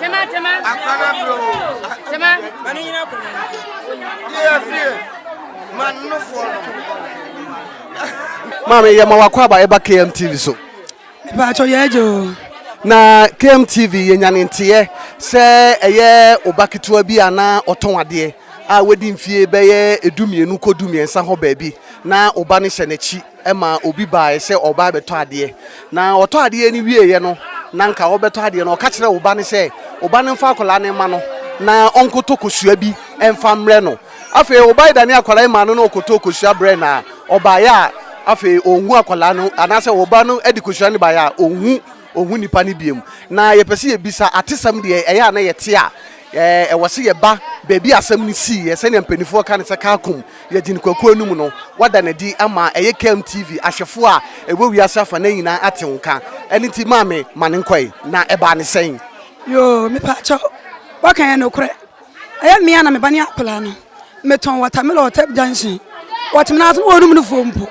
Tema, tema. Akwara bro. Tema. Mani nyina ko. Ye fie. Man no fo. Maame yɛ ma wakɔ aba ɛba KM TV so. Ba cho yɛ jo. Na KM TV yɛ nyane nteɛ sɛ ɛyɛ oba ketewa bi ana ɔtɔn adeɛ a wadi mfie bɛyɛ edu mmienu kɔ du mmiɛnsa hɔ baabi na oba ne hyɛ n'akyi ma obi baeɛ sɛ ɔreba abɛtɔ adeɛ, na ɔtɔ adeɛ no wieeɛ no, na anka ɔrebɛtɔ adeɛ no, ɔka kyerɛɛ wo ba no sɛ, Wo ba no mfa akwadaa no mma no, na ɔnkɔtɔ kosua bi mfa mmrɛ no. Afei wo ba no danee akwadaa yi maa no na ɔkɔtɔɔ kosua brɛɛ no a, ɔbaeɛ a, afei ɔnhu akwadaa no, anaasɛ wo ba no de kosua no baeɛ a, ɔnhu. Onhu nnipa no bio. Na yɛpɛ sɛ yɛbisa, atesɛm deɛ ɛyɛ a na yɛte a, ɛwɔ sɛ yɛba baabi a asɛm no siiɛ, sɛdeɛ mpaninfoɔ ka no sɛ Kaakum, Yɛgyene Kwaku Anum no, wɔada no adi ama ɛyɛ KMTV ahwɛfoɔ a ɛwɔ wiase afa nan nyinaa ate wo nka. Ɛno nti maame, ma no nkɔ ɛ. Na ɛbaa no sɛn? Yoo, mepaakyɛw, woaka yɛn nokorɛ. Ɛyɛ mmea na me ba ne akwadaa no. Metɔn watermelon wɔ Tep Junction. Wɔtwe n'aso na wɔnum no fuo mpo.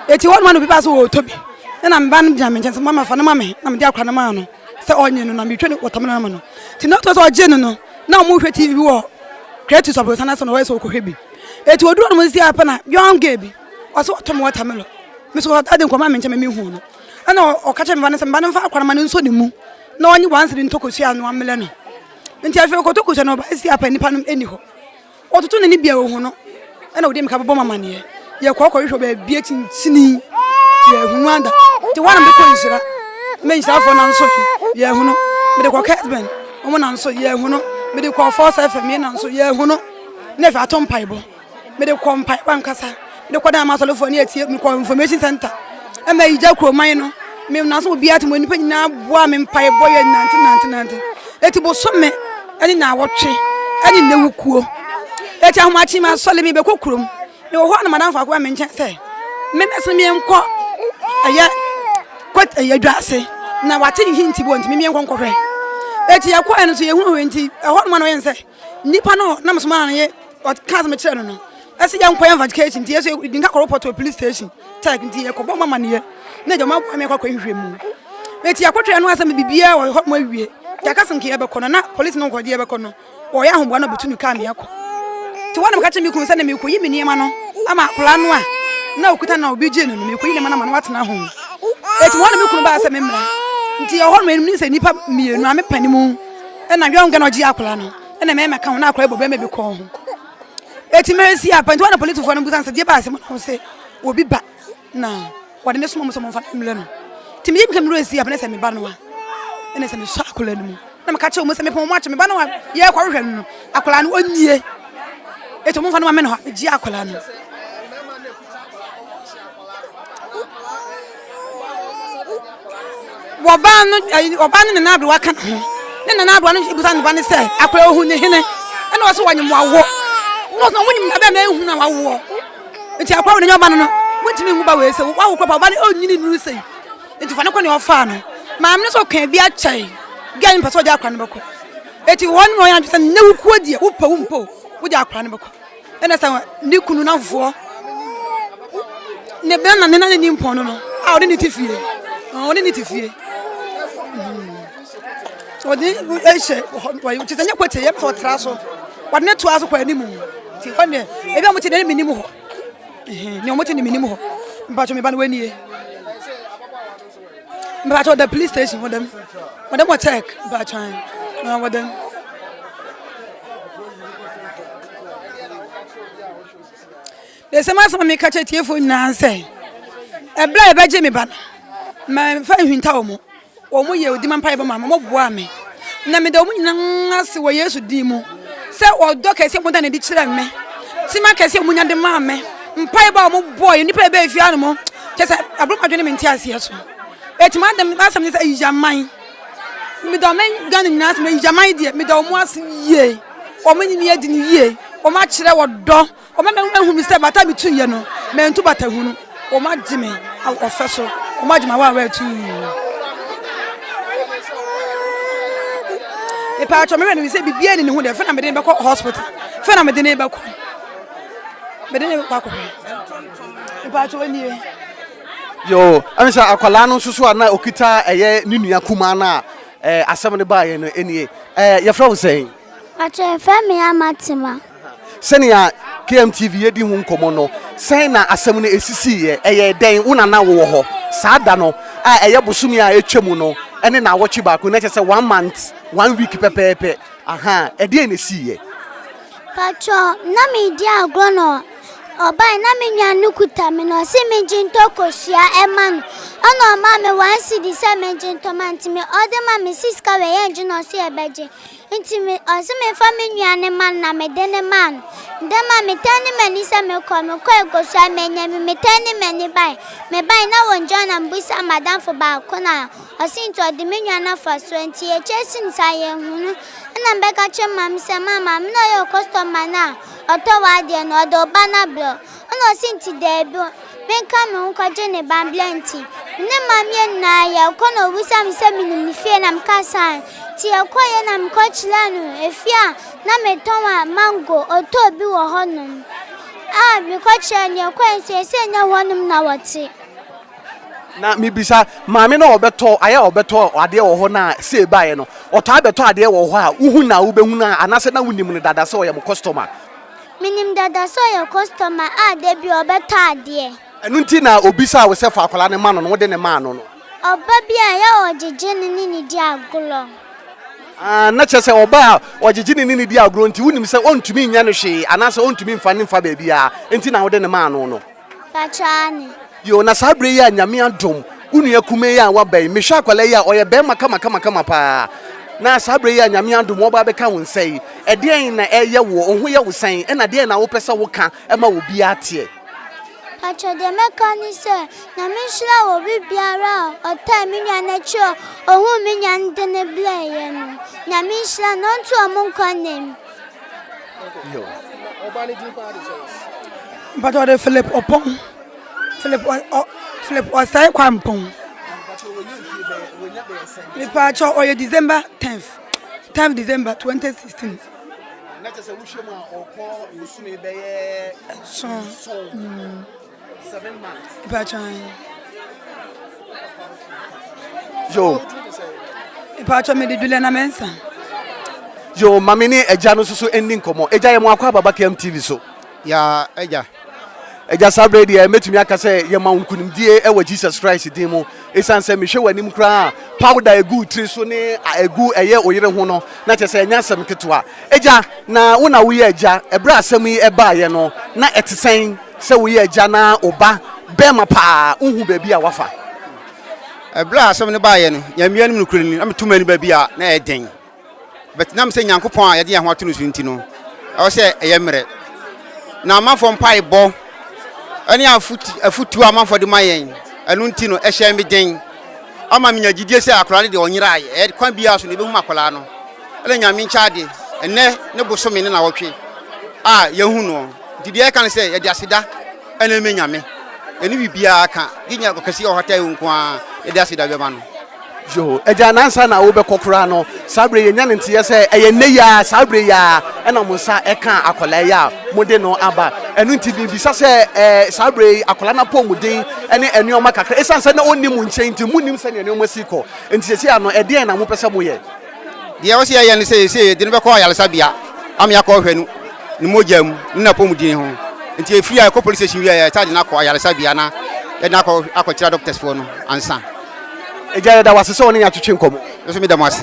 Eti hɔ nom na obi baa sɛ ɔretɔ bi. Ɛna me ba no gyina me nkyɛn sɛ mama fa no ma me na mede akwadaa no maa no sɛ ɔnye no na metwa ne watermelon ama no. Ti na ɔtɔ sɛ ɔgye no no na wɔhwɛ TV wɔ Kretus aborosan ase na ɔyɛ sɛ ɔkɔhwɛ bi. Eti odu hɔ nom si apɛ na young girl bi ɔsɛ ɔtɔ me watermelon. Me so ɔtaa de nkɔma me nkyɛn ma me hu no. Ɛna ɔka kyerɛ me ba no sɛ me ba no mfa akwadaa no ma no nsɔ ne mu na ɔnye one cedi ntɔ kosua na wɔammelɛ no. Nti afei ɔkɔtɔ kurusa na ɔbae se apa nipa no nni hɔ. Ɔtoto n'ani bia ohu no ɛna ɔde mmirika bɛbɔ mamaneɛ. Yɛkɔ kɔhwehwɛ baabi akyinkyini yɛhunu ada. Nti hɔ a na mede kɔ nhyira mɛ nhyirafoɔ nan so yɛhunu. Mede kɔ Kirtland wɔn nan so yɛhunu. Mede kɔ Falls FM yɛn nan so yɛhunu. Na afei ato mpaebɔ. Mede kɔ mpaebɔ ankasa. Mede kɔ dan m'asɔrefoɔ ne atie me kɔ information center. Ɛma yigya kuroman no. Me na so obiara te mo nipa nyinaa boa me mpaebɔ yɛ nante nante nante. Eti bosome ɛne na awɔtwe ɛne na ewu kuo. Eti ahomakye ma sɔre me bɛkɔ kurom. Me wɔ hɔ a na madamfo akɔ me nkyɛn sɛ me mɛsɛ me nkɔ ɛyɛ kɔt ɛyɛ dwa ase na wate ne hinti bɔ nti me nkɔ nkɔhwɛ. Eti yɛkɔ ɛno so yɛhunu hɔ nti ɛhɔ nom na ɔyɛ sɛ Nipa no na mesoma no ye ɔka sɛ mekyerɛ no no ɛsɛ yɛ nkɔyɛ investigation nti ɛsɛ yɛdi nka kɔ report wɔ police station tech nti yɛkɔbɔ ma amanneɛ na agya ɔmaboa me akɔkɔ nhwɛ mu meti akɔtwɛ no asɛ me biribiara wɔ hɔ mo awie nti aka sɛ nka yɛbɛkɔ no na police no nkɔgye yɛbɛkɔ no ɔyɛ ahoboa na ɔbɛtu no kaa me akɔ nti wɔn na meka kyerɛ me kunu sɛ na mekɔyi me nneɛma no ama akwadaa no a na ɔkuta na obi gye no no mekɔyi nneɛma no ama no watena ho ɛti wɔn na me kunu baa sɛ me mmra nti ɛhɔ no ɛnim ne sɛ nnipa mmienu a mepɛ ne mu ɛna hwɛ nka na ɔgye akwadaa no ɛna mɛma ka ho na akwadaa bɔ bɛma bi kɔn ho eti mɛ si apɛnti wɔn na polisifoɔ no busa nsɛdeɛ baasi mu na wɔn sɛ obi ba na wɔde ne soma mu sɛ wɔn fa mmira no ti mi yi mi ka mi wura si apɛnti sɛ mi ba no wa ɛna sɛ mi sɔ akwadaa no mu na mi ka kyerɛ wɔn sɛ mi pɔn wɔn akyɛ mi ba no wa yɛ kɔ hwehwɛ no akwadaa no ɔnyie eti wɔn fa no ma mi na hɔ gye akwadaa no. Wɔbaa no ɛyi ɔbaa no nana aberewa ka ne ho ne nana aberewa no bisa ne ba no sɛ akora ohun ne hene ɛna ɔsɛ wɔnyem wawo na ɔsɛ wɔnyem na bɛn na ehun na wawoɔ nti akora wɔn nyɛ ɔba no no wɔntumi nhu ba wɔ ese wawo kora pa ɔba no ɔnyini nuru sɛ nti fa ne kɔ ne ɔfaa no maame no sɛ ɔkàn bi akyɛn bi a ne mpɛ sɛ ɔde akora no bɛkɔ eti wɔn mu wɔn yɛ adwene sɛ ne wukuo deɛ wopɛ wo mpo wode akora no bɛkɔ. ɛna sɛ ne kunu n'afofoɔ ne bɛn na ne na ne nimpɔn no no a ɔde ne ti fie ɔde ne ti fie ɔde ɛhyɛ wɔyi te sɛ nyɛ kɔte yɛ pɛ ɔtra so wɔde ne to aso kɔ anim ti hɔ ne ebi a wɔte ne ne nim hɔ ne wɔte ne ne nim hɔ mpatwɔ mi ba no wɔ nie. Mpatsɔ ɔda police station hɔ dɛm wɔ dɛm wɔ check mpatsɔ ae na wɔ dɛm. Bese mo asɛm a meka kyerɛ tiefo nyinaa sɛ ɛberɛ a yɛbɛgye me ba no mamfa nhwinta wɔ mo wɔn mo yɛ odima mpaebɔ ma me wɔn boa me na meda wɔn nyinaa ase wɔ Yesu din mu sɛ ɔdɔ kɛse a wɔda no adi kyerɛ me tema kɛse a wɔnya de maa me Mpaebɔ a wɔbɔɔ yɛ nnipa a ɛbɛɛ fie anom kyɛ sɛ aburo madwene me nte aseɛ so ɛtumi adam asɛm ne sɛ ayiyaman medɔ me Ghana nyinaa sɛ ayiyaman deɛ medɔ wɔn ase yie wɔn ne me adi no yie wɔn akyerɛ wɔ dɔ wɔn ama ahu me sɛ bata metu yɛ no mantu bata hunu wɔn agye me ɔfɛ so wɔn agye me awa awa atu mepɛ atwɔ me wɛ no sɛ biribiara ni ne ho deɛ fɛ na mede bɛkɔ hospital fɛ na mede ne bɛkɔ mede ne kɔ akɔhwɛ mpakyɛ ɔnie yo ɛne sɛ akwadaa no nso so a na ɔkita ɛyɛ ne nua kumaa no a eh, asɛm no baeɛ no ɛnie eh, yɛfrɛ wo sɛn pakyɛ yɛfrɛ me ama tema sɛnea kmtv yɛdi ho nkɔmmɔ no sɛn na asɛm no ɛsisiiɛ ɛyɛ dɛn wo nana wowɔ hɔ saa da no a ɛyɛ bosome a ɛtwa mu no ɛne na awɔtwe baako na ɛkyɛ sɛ one month one week pɛpɛɛpɛ aha ɛdeɛn na ɛsiiɛ Patrɔ na meredi agorɔ na ɔbae na me nua no kuta me na ɔse mengye ntɔ kosua ɛma no ɛna ɔmaa me one cedi sɛ mengye ntɔ ma nti me ɔde ma me si sika wei yɛ ngye na ɔse yɛbɛgye nti me ɔse memfa me nua no ma no na mede no maa no mede ma metɛn ne m'ani sɛ mekɔ mekɔe kosua manya bi metɛn ne m'ani bae mebae na wɔngyina na mebisa madamfo baako na Ɔse nti ɔde me nwa no afa so nti ekyɛ sin saa yɛnhu no ɛna mebɛka kyerɛ maame sɛ maa maame na ɔyɛ ɔkɔstɔma no a ɔtɔ w'adeɛ no ɔde wo ba no abrɛ wo ɛna ɔse nti daabi menka me ho nkɔgye ne ba mbrɛ nti me ne maame yɛ nyinaa yɛkɔ na ɔbisa me sɛ menim ne fie na meka saa nti yɛkɔyɛ na mekɔ kyerɛ no efie a na metɔn a mango ɔtɔ bi wɔ hɔnom a mekɔ kyerɛ no yɛkɔɛ nso yɛsɛ nyɛ hɔnom na wɔte. Na mibisa maame no a ɔbɛtɔ ayɛ a ɔbɛtɔ adeɛ wɔ hɔ na sei baeɛ no, ɔtaa bɛtɔ adeɛ wɔ hɔ a wohu na wobɛhu no anaasɛ na wonim no dada sɛ ɔyɛ mo kɔstɔma? Menim dada sɛ ɔyɛ kɔstɔma a da biara ɔbɛtɔ adeɛ. Ɛno nti na ɔbisaa wo sɛ fa akwadaa no ma no na wode no maa no no? Ɔba bi a ɛyɛ a ɔgyegye no ne no di agorɔ. Aah, na kyerɛ sɛ ɔba a ɔgyegye no ne no di agorɔ nti wonim sɛ ɔntumi nyɛ no hwee anaasɛ ɔntumi mfa no mfa baabiara nti na wode no maa no no? Pakyɛ aane. Yoo na saa berɛ yi a Nyame adom wo nua kumaa yi a waba yi mehwɛ akwadaa yi a ɔyɛ barima kamakamakama paa na saa berɛ yi a Nyame adom ɔba abɛka wo nsa yi ɛdeɛn na ɛyɛ woɔ wo ho yɛ wo sɛn ɛna deɛn na wopɛ sɛ woka ma obiara teɛ. Pakyɛ deɛ mɛka ne sɛ Nyame nhyira wo obi biara a ɔtaa me nua no akyire a ohuu me nua no de no brɛɛyɛ no Nyame nhyira no ɔnto ɔmo nkwa nna mu. Yo. But ɔde Philip Ɔpɔn. Philip ɔ Philip Ɔsɛe Kwampɔn. Mepaakyɛ ɔyɛ December 10th. 10th December 2016. Na kyerɛ sɛ wohwɛ mu a ɔkɔ bosome bɛyɛ nson. yo mpatsɔ mi di dulɛ na mɛ nsa. yo maame ne ɛgya no soso ɛnni nkɔmɔ ɛgya yɛ mo akɔ ababa km tv so. ya ɛgya. ɛgya saa berɛ deɛ mɛtumi aka sɛ yɛma wo nkonimdie ɛwɔ jesus christ din mu ɛsiane sɛ mehwɛ w'anim koraa powder ɛgu tiri so ne ɛgu ɛyɛ oyere ho no na kyɛ sɛ ɛnyɛ asɛm ketewa ɛgya na wo na woyɛ ɛgya ɛberɛ asɛm yi ɛbaeɛ no na ɛte sɛn Sɛ woyɛ agya na wo ba barima pa ara nhu baabi a wafa. Ɛberɛ a asɛm no baeɛ no, Nyame anim nokorɛ ni, na meto m'ani ba bi a na ɛyɛ den. But na mesɛ Nyankopɔn a yɛde yɛn ho ato no so nti no, ɛwɔ sɛ ɛyɛ mmerɛ. Na amanfoɔ mpaebɔ ne afotuo a amanfoɔ de ma yɛn, ɛno nti no ɛhyɛɛ me den. Ama menya gyidie sɛ akwadaa no deɛ ɔnyeraeɛ. Ɛyɛ kwan biara so no yɛbɛhunu akwadaa no. Ɛna Nyame nkyɛ ade, ɛnnɛ ne bosome ne nnawɔtwe a yɛahu noɔ. Nti deɛ ɛka ne sɛ yɛde aseda ɛna ɛmɛ nyame ɛne bibiaa ka gye nyɛ ɔkɛseɛ ɔhata ɛwo nko ara yɛde aseda bɛma no. Yoo agya nansa na wobɛkɔ koraa no saa berɛ yɛnya ne nteɛ sɛ ɛyɛ nnɛ yi ara saa berɛ yi ara ɛna mo nsa ɛka akwadaa yi a mode no aba ɛno nti mebisa sɛ ɛɛ saa berɛ yi akwadaa no apɔmuden ɛne nneɛma kakra ɛsiane sɛ na ɔnni mo nkyɛn nti monnim sɛdeɛ nneɛma si kɔ nti sɛsi ano ɛdeɛn na mopɛ sɛ moyɛ Deɛ ɔsɛ yɛyɛ no sɛ yɛsɛ yɛde no bɛkɔ ayaresabea ama yɛakɔ hwɛ no ne mogya mu ne n'apɔmuden ho nti yɛfiri a yɛkɔ police station wie a yɛtaa de no akɔ ayaresabea na yɛde no akɔ akɔkyerɛ doctors foɔ no ansa. Agya yɛda wo ase sɛ wɔne yɛn atwetwe nkɔmmɔ. Me nso meda mo ase.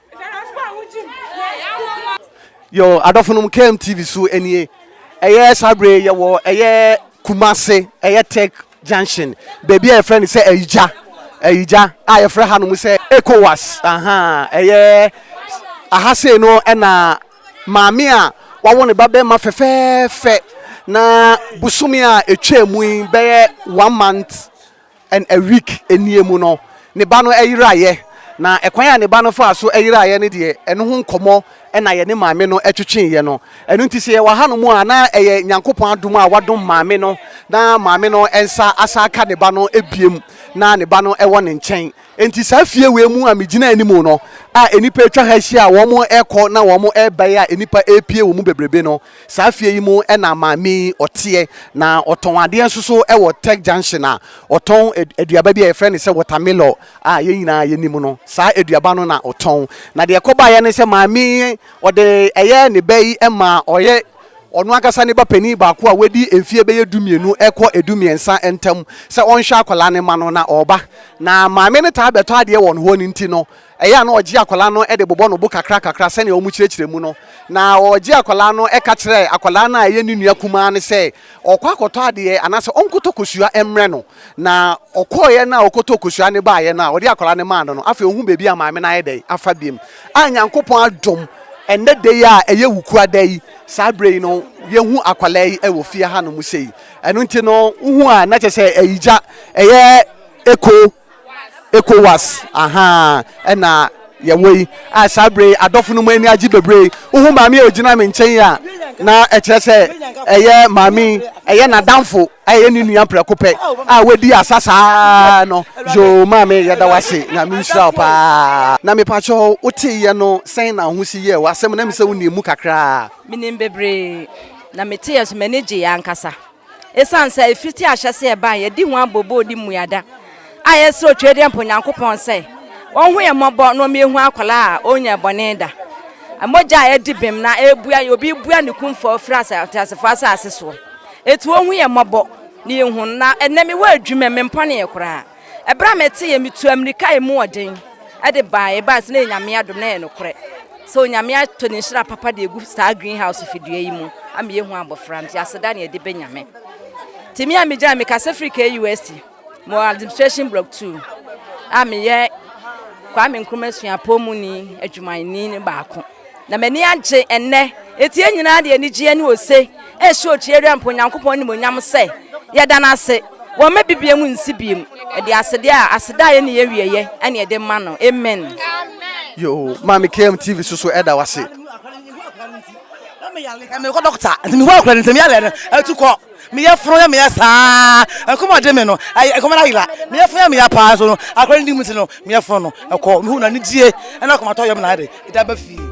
Yo, adɔfo nom KM TV so nie. Ɛyɛ saa bere yɛ wɔ ɛyɛ Kumase, ɛyɛ Tech Junction. Baabi a yɛfrɛ no sɛ Ayigya. Ayigya a yɛfrɛ ha nom sɛ ECOWAS. Aha, ɛyɛ aha sei no ɛna maame a wawo ne ba bɛrima fɛfɛɛfɛ na bosome a etwa mu yi bɛyɛ one month And a week nie mu no, ne ba no yeraeɛ. Na ɛkwan a ne ba no faa so yeraeɛ no deɛ, ɛno ho nkɔmmɔ na yɛne maame no twetweeɛ no. Ɛno nti sɛ yɛwɔ hanom a, na ɛyɛ Nyankopɔn adom a wadom maame no na maame no nsa asan aka ne ba no biom na ne ba no wɔ ne nkyɛn. Enti saa fie wei mu a megyina anim no a nnipa atwa ha ahyia a wɔrekɔ na wɔreba yi a nnipa repue wɔ mu bebrebe no, Saa fie yi mu na maame yi ɔteɛ, na ɔtɔn adeɛ nso so wɔ Tech Junction a ɔtɔn aduaba bi a yɛfrɛ no sɛ wɔtamilɔ a yɛn nyinaa yɛnim no. Saa aduaba no na ɔtɔn. Na deɛ ɛkɔbaeɛ ne sɛ maame yi ɔde ɛyɛ ne ba yi ma ɔyɛ ɔno ankasa ne ba panin baako a wadi mfeɛ bɛyɛ du mmienu kɔ du mmiɛnsa ntam sɛ ɔnhwɛ akwadaa no ma no na ɔreba. Na maame no taa bɛtɔ adeɛ wɔn hɔ no nti no, Ɛyɛ a na ɔgye akwadaa no de bobɔ no bo kakrakakra sɛnea wɔkyerɛkyerɛ mu no, na ɔgye akwadaa no ka kyerɛ akwadaa no a ɛyɛ ne nua kumaa no sɛ ɔkɔ akɔtɔ adeɛ anaasɛ ɔnkɔtɔ kosua mmrɛ no. Na ɔkɔeɛ no a ɔkɔtɔɔ kosua no baeɛ no a ɔde akwadaa no maa no no, afei ɔhuu baabi a maame no ayɛ dɛn afa biom. A Nyankopɔn adom, ɛnnɛ da yi a ɛyɛ Wukua da yi, saa berɛ yi no yɛhu akwadaa yi wɔ fie hanom sei. Ɛno nti no, wohu a na kyerɛ sɛ ɛyɛ gya, ɛyɛ eko. ecowas ahaa ɛna yɛwɔ yi a saa bere yi adɔfo no mu ani agye bebree wohu maame a ogyina me nkyɛn a na ɛkyerɛ sɛ ɛyɛ maame ɛyɛ n'adamfo ɛyɛ ne nua prɛko pɛ a wadi asa saa no yoo maame yɛda wase nyame nhyira wo paa na mepakyɛ woteeɛ no sɛn na ho si yɛ w'asɛm na me sɛ wonim mu kakraa menim bebree na meteeɛ so m'ani gyeeɛ ankasa Esiane sɛ efi te ahyɛse ɛbae yɛde hu abɔ bo di mmuada a yɛsrɛ Otwadiɛ Mpa Onyankopɔn sɛ ɔnhu yɛn mmɔbɔ na ɔma yɛhu akwadaa a ɔnyɛɛ bɔne da. Mogya a adi bem na ɛrebua yɛ obi rebua ne kumfɔ a ɔfiri asa ateasefo asase soɔ. Eti ɔnhu yɛn mmɔbɔ na yɛhu no na ɛnnɛ mewɔ adwuma mu mempɔnee koraa. Ɛberɛ a meteeɛ, metuu ammirika a emu ɔden de baeɛ. Ɛbaeɛ sɛ na ɛyɛ Nyame adom, na ɛyɛ nokorɛ sɛ Onyame atɔ Ne nhyira papa de agu saa green house fidua yi mu ama yɛahu abɔfra no. Nti aseda ne yɛde bɛ Nyame. Nti me a megyina, mekasa firi KUST, mewɔ Administration Block 2 a meyɛ Kwame Nkrumah Suapɔn muni adwumayɛni no baako. Na m'ani agye ɛnnɛ. Enti yɛn nyinaa de anigyeɛ ne ose rehyɛ Okyieria Mpo Nyankopɔn animuonyam sɛ, Yɛda no ase, wɔmma bibie mu nsi biem, ɛde asedeɛ a aseda a ɛnni awieɛ ne ɛde ma no. Amen. Yoo maame KM TV so so ɛda wase. Mekɔ dɔkta nti mehuu akora no ntɛm yaleɛ no atu kɔ. Me yafunu yɛ me ya saa. Ɛkɔm a ɔde me no, ɛyɛ ɛkɔm no ayera. Me yafunu yɛ me ya paa nso no, akora no di mu nti no, me yafunu no ɛkɔ. Mehu no anigyeɛ ne akomatɔ yam na ade de aba fie.